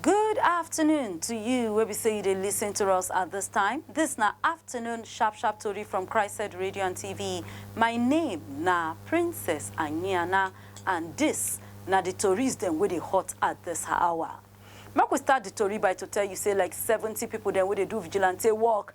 Good afternoon to you wey be say you dey listen to us at this time. This na afternoon sharp sharp tori from Christseed Radio and TV. My name na Princess Anyiana and this na the tories dem wey dey hot at this hour. Make we start the tori by to tell you say like seventy people dem wey dey do vigilante work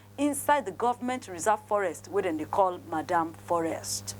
inside di govment reserve forest wey dem dey call Madam Forest.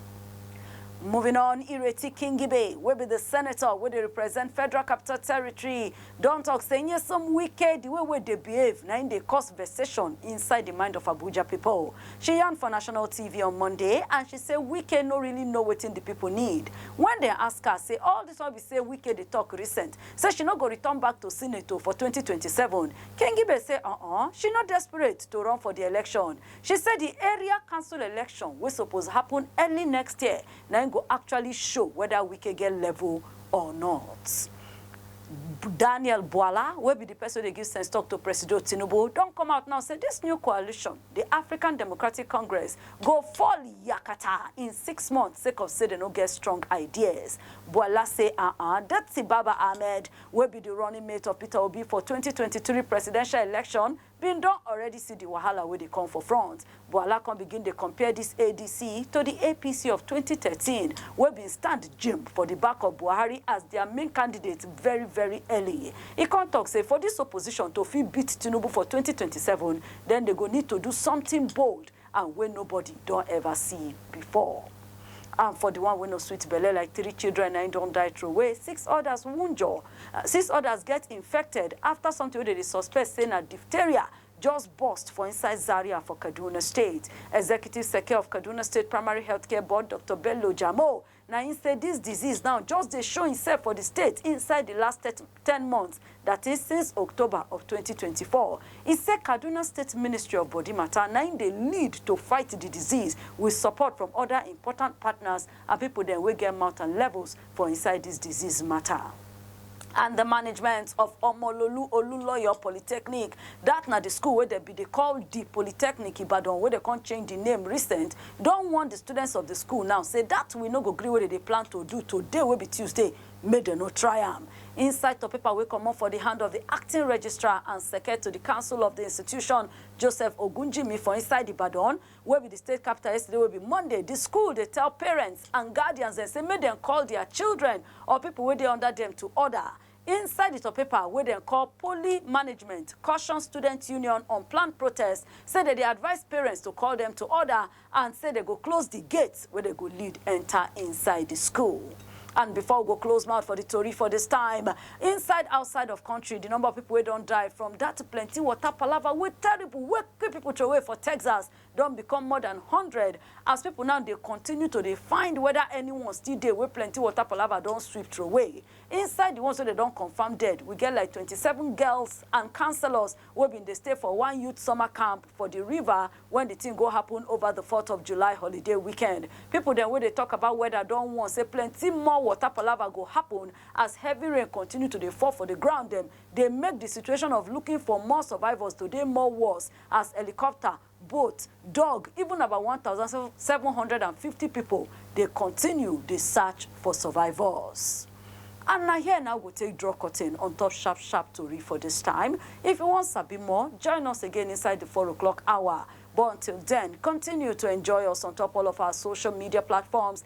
Moving on, Ireti Kingibe wey be di senator wey dey represent Federal Capital Territory don tok say Nyesom Wike di way wey dey behave na im dey cause vexation inside di mind of Abuja pipo. She yarn for national TV on Monday and she say Wike no really know wetin di pipo need wen dem ask her say all dis one be say Wike dey tok recent say she no go return back to Senate o for twenty twenty seven, Kenghibe say uh-uh, she no desperate to run for di election. She say di area council election wey suppose happun early next year na im go actually show weda Wike get level or not. Daniel Bwala, wey be di pesin wey dey give sense tok to Presido Tinubu, don come out now say dis new coalition Di African Democratic Congress go fall yakata in six months sake of say dem no get strong ideas, Bwala say aah dirty Baba Ahmed wey be di running mate of Peter Obi for twenty twenty three presidential election bin don already see di wahala wey dey come for front. Bwala come begin dey compare dis ADC to di APC of twenty thirteen wey bin stand jim for di back of Buhari as dia main candidate very very early. E come tok say for dis opposition to fit beat Tinubu for twenty twenty seven, then dey go need to do something bold and wey nobody don ever see before. And for the one wey no sweet belle like three children na im don die throway, six others wunjure, uh, six others get infected after something wey dem dey suspect say na diphtheria just burst for inside Zaria for Kaduna State. Executive Seke of Kaduna State Primary Healthcare Board, Doctor Bello Jamo, Na im say dis disease now just dey show imsef for di state inside di last thirty ten months, dat is, since October of twenty twenty four. E say Kaduna State Ministry of Body Matter na im dey lead to fight di disease wit support from oda important partners and pipo dem wey get mouth and levels for inside dis disease matter. and di management of Omololu Oluloyo Polytechnic, dat na di school wey dem bin dey call Di Polytechnic Ibadan wey dem come change di name recent, don warn di students of di school now say dat we no go gree wey dem dey plan to do today wey be Tuesday, make dem no try am. Inside tok paper wey comot for di hand of di Acting Registrar and Seke to di Council of di institution, Joseph Ogunjimi for inside Ibadan, wey be di state capital yesterday wey be Monday, di school dey tell parents and guardians dem say make dem call dia children or pipo wey dey under dem to order. Inside di topaper wey dem call Poly Management Caution Student Union on Planned Protest say dem dey advise parents to call dem to order and say dem go close di gates wey dem go lead enta inside di school. And before we go close mouth for di tori for dis time, inside outside of kontri di number of pipo wey don die from dat plenty water palava wey terrible wey Wey pipo trowey for Texas don become more dan hundred as pipo now dey continue to dey find weda anyone still dey wey plenty water palava don sweep trowey. Inside di ones wey dem don confam dead, we get like twenty seven girls and counsellors wey bin dey stay for one youth summer camp for di river wen di tin go happun over di Fourth of July holiday weekend. Pipo dem wey dey tok about weather don warn say plenty more water palava go happun as heavy rain continue to dey fall for di ground dem dey make di situation of looking for more survivors to dey more worse as helicopter, boat, dug even about one thousand seven hundred and fifty pipo dey continue dey search for survivors. And na here na we go take draw curtain on top sharp sharp tori for dis time. If you wan sabi more, join us again inside di four o'clock hour. But until den, continue to enjoy us on top all of our social media platforms